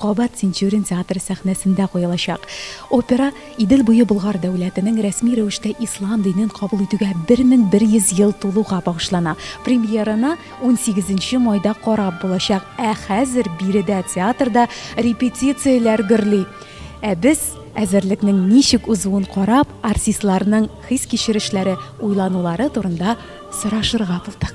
Кабат Тинчурин театры сәхнәсендә куелачак. Опера Идел буе Болгар дәүләтенең рәсми рәвештә ислам динен кабул итүгә 1100 ел тулуга багышлана. Премьераны унсигезенче майда карап булачак. Ә хәзер биредә театрда репетицияләр гөрли. Ә без, әзерлекнең ничек узуын карап, артистларның хис-кичерешләре, уйланулары турында сорашырга булдык.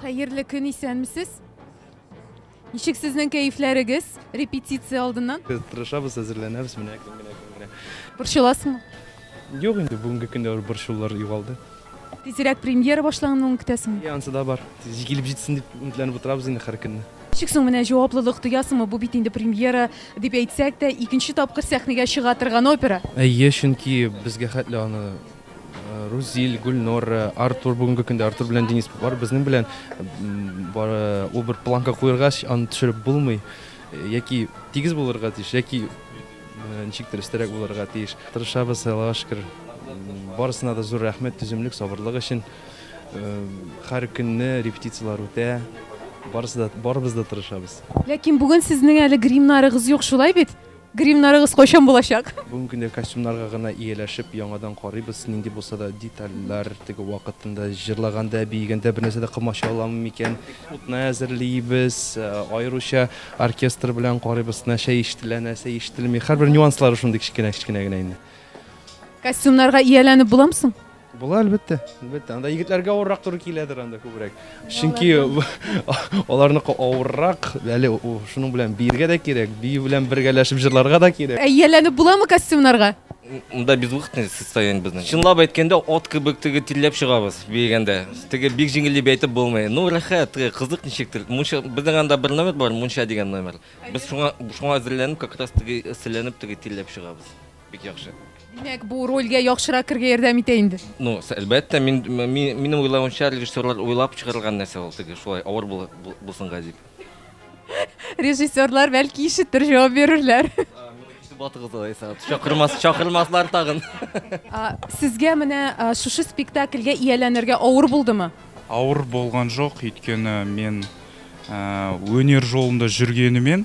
Хәерле көн, исәнмесез? Ничек сезнең кәефләрегез репетиция алдыннан? Без тырышабыз, әзерләнәбез, менә көн генә көн генә. Борчыласыңмы? Юк инде, бүгенге көндә бер борчулар югалды. Тизрәк премьера башлануын көтәсеңме? Ансы да бар. Тиз килеп җитсен дип өметләнеп утырабыз инде һәр көнне. Ничек соң менә җаваплылык тоясыңмы, бу бит инде премьера дип әйтсәк тә, икенче тапкыр сәхнәгә чыга торган опера? Әйе, чөнки безгә хәтле аны Рузил, Гөлнора, Артур, бүгенге көндә Артур белән Денис бар, безнең белән бары ул бер планка куергач, аны төшереп булмый. Яки тигез булырга тиеш, яки ничектер өстәрәк булырга тиеш. Тырышабыз, Аллага шөкер. Барысына да зур рәхмәт, түземлек, сабырлык өчен. Һәр көнне репетицияләр үтә, барысы да, барыбыз да тырышабыз. Ләкин бүген сезнең әле гримнарыгыз юк, шулай бит? Гримнарыгыз кайчан булачак? Бүгенге көндә костюмнарга гына ияләшеп, яңадан карыйбыз, нинди булса да детальләр, теге вакытында җырлаганда, биегәндә бернәрсә дә комача аламы микән? Утны әзерлибез, аеруча оркестр белән карыйбыз, нәрсә ишетелә, нәрсә ишетелми. Һәрбер нюанслары шундый кечкенә-кечкенә генә инде. Костюмнарга ияләнеп буламы соң? Була, әлбәттә, әлбәттә. Анда егетләргә авыррак туры киләдер анда күбрәк. Чөнки аларныкы авыррак, әле шуның белән биергә дә кирәк, бию белән бергәләшеп җырларга да кирәк. Ә ияләнеп буламы костюмнарга? Монда безвыходное состояние безнең. Чынлап әйткәндә, ат кебек теге тилләп чыгабыз биегәндә. Теге бик җиңел дип әйтеп булмый. Ну, рәхәт, кызык ничектер. Мунча, безнең анда бер номер бар, мунча дигән номер. Без шуңа, шуңа әзерләнеп, как раз теге эсселәнеп теге тилләп чыгабыз. Бик яхшы. Димәк, бу рольгә яхшырак кергә ярдәм итә инде. Ну, әлбәттә, мин минем уйлавымча, режиссерлар уйлап чыгарылган нәрсә ул теге шулай авыр булсынга дип. Режиссерлар бәлки ишетер, җавап бирерләр. Батыгыз алайса, чакырмас, чакырмаслар тагын. Сезгә менә шушы спектакльгә ияләнергә авыр булдымы? Авыр булган жок, өйткәне мин өнер жолында жүргәнемен.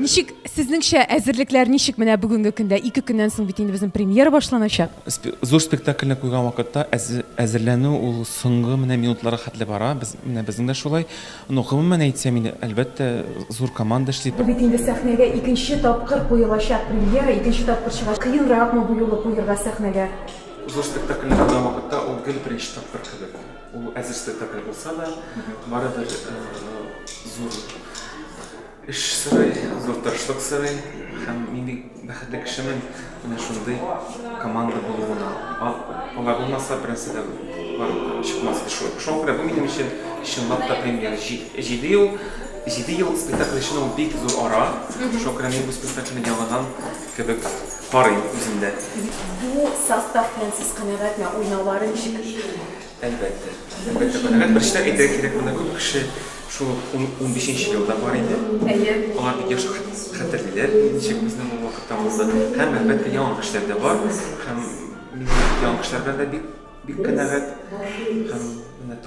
Ничек сезнеңчә әзерлекләр ничек менә бүгенге көндә? Ике көннән соң бит инде безнең премьера башланачак. Зур спектакльне куйган вакытта әзерләнү ул соңгы менә минутларга хәтле бара. Без менә безнең дә шулай. Ну, гомумән әйтсәм инде, әлбәттә, зур команда эшли. Бу бит инде сәхнәгә икенче тапкыр куелачак премьера, икенче тапкыр чыга. Кыенракмы бу юлы куерга сәхнәгә? Зур спектакльне куйган вакытта ул гел беренче тапкыр кебек. Ул әзер спектакль булса да, барыбер зур Эш сорый, зур тырышлык сорый һәм мин бик бәхетле кешемен, менә шундый команда булуына. Алай булмаса, бернәрсә дә чыкмас иде. Шуңа күрә бу минем өчен чынлап та премьера. Җиде ел, җиде ел спектакль өчен ул бик зур ара. Шуңа күрә мин бу спектакльне яңадан кебек карыйм үземдә. Бу состав белән сез канәгатьме? Уйнаулары ничек? Әлбәттә. Әлбәттә, канәгать. Беренче дә әйтергә кирәк, монда күп кеше шул унбишенче елда бар иде. Әйе. Алар бик яхшы хәтерлиләр, ничек безнең ул вакытта булды. Һәм, әлбәттә, яңа кешеләр дә бар. Һәм мин яңа кешеләр белән дә бик канәгать. Һәм менә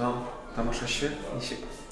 тамашачы ничек?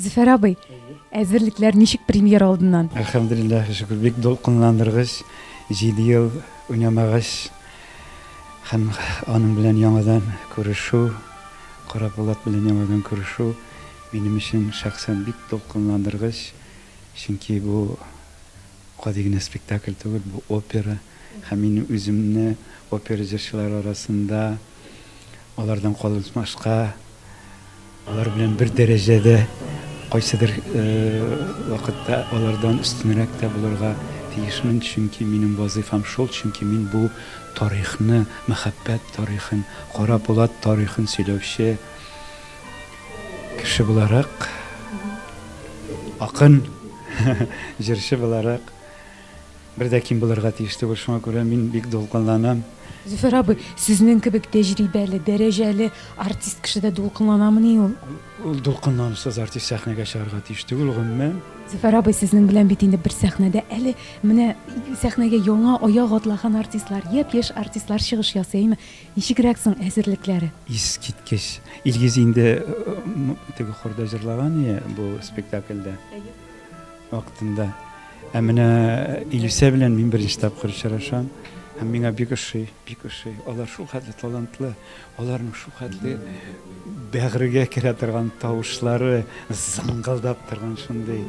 Зөфәр абый, әзерлекләр ничек премьер алдыннан? Әлхәмдулиллаһ, шөкер, бик дулкынландыргыч, 7 ел уйнамагач һәм аның белән яңадан күрешү, Карап Булат белән яңадан күрешү минем өчен шәхсән бик дулкынландыргыч, чөнки бу Гади генә спектакль түгел, бу опера һәм мин үземне опера җырчылары арасында алардан калмашка, алар белән бер дәрәҗәдә, кайсыдыр вакытта алардан өстенрәк тә булырга тиешмен, чөнки минем вазыйфам шул, чөнки мин бу тарихны, мәхәббәт тарихын, Кара Булат тарихын сөйләүче. Кеше буларак, акын, җырчы буларак, бер дә ким булырга тиеш түгел, шуңа күрә мин бик дулкынланам. Зөфәр абый, сезнең кебек тәҗрибәле, дәрәҗәле артист кешедә дулкынланамыни ул? Ул дулкынланусыз артист сәхнәгә чыгарга тиеш түгел, гомумән. Зөфәр абый, сезнең белән бит инде бер сәхнәдә әле менә сәхнәгә яңа аяк атлаган артистлар, япь-яшь артистлар чыгыш ясый, әйме? Ничегрәк соң әзерлекләре? Искиткеч. Илгиз инде теге хорда җырлаган ие бу спектакльдә. Вакытында. Ә менә Илүсә белән мин беренче тапкыр очрашам. Һәм миңа бик ошый, бик ошый. Алар шул хәтле талантлы, аларның шул хәтле бәгырьгә керә торган тавышлары, зыңгылдап торган шундый.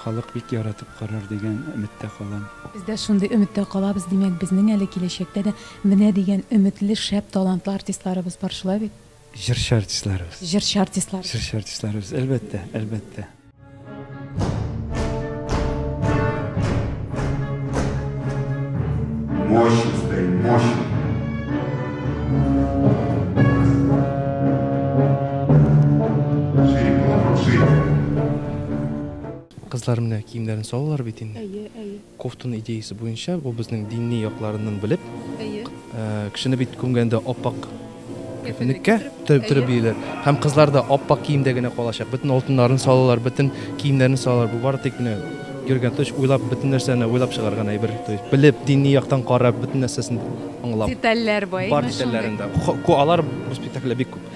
Халык бик яратып карар дигән өметтә калам. Без дә шундый өметтә калабыз, димәк, безнең әле киләчәктә дә менә дигән өметле, шәп, талантлы артистларыбыз бар, шулай бит? Җырчы артистларыбыз. Җырчы артистларыбыз. Җырчы артистларыбыз, әлбәттә, әлбәттә. Мощно стоит, мощно. Кызлар менә киемнәрен салалар бит инде. Әйе, әйе. Кофтаны идеясе буенча ул безнең динни якларыннан белеп. Әйе. Кешене бит күмгәндә аппак кәфенлеккә төреп биелер. Һәм кызлар да аппак киемдә генә калачак. Бөтен алтыннарын салалар, бөтен киемнәрен салалар. Бу бары тик менә Герган Туч уйлап бөтен нәрсәне уйлап чыгарган әйбер. То есть белеп, динни яктан карап, бөтен нәрсәсен аңлап. Детальләр бай. Бар детальләрендә. Алар бу спектакльдә бик күп.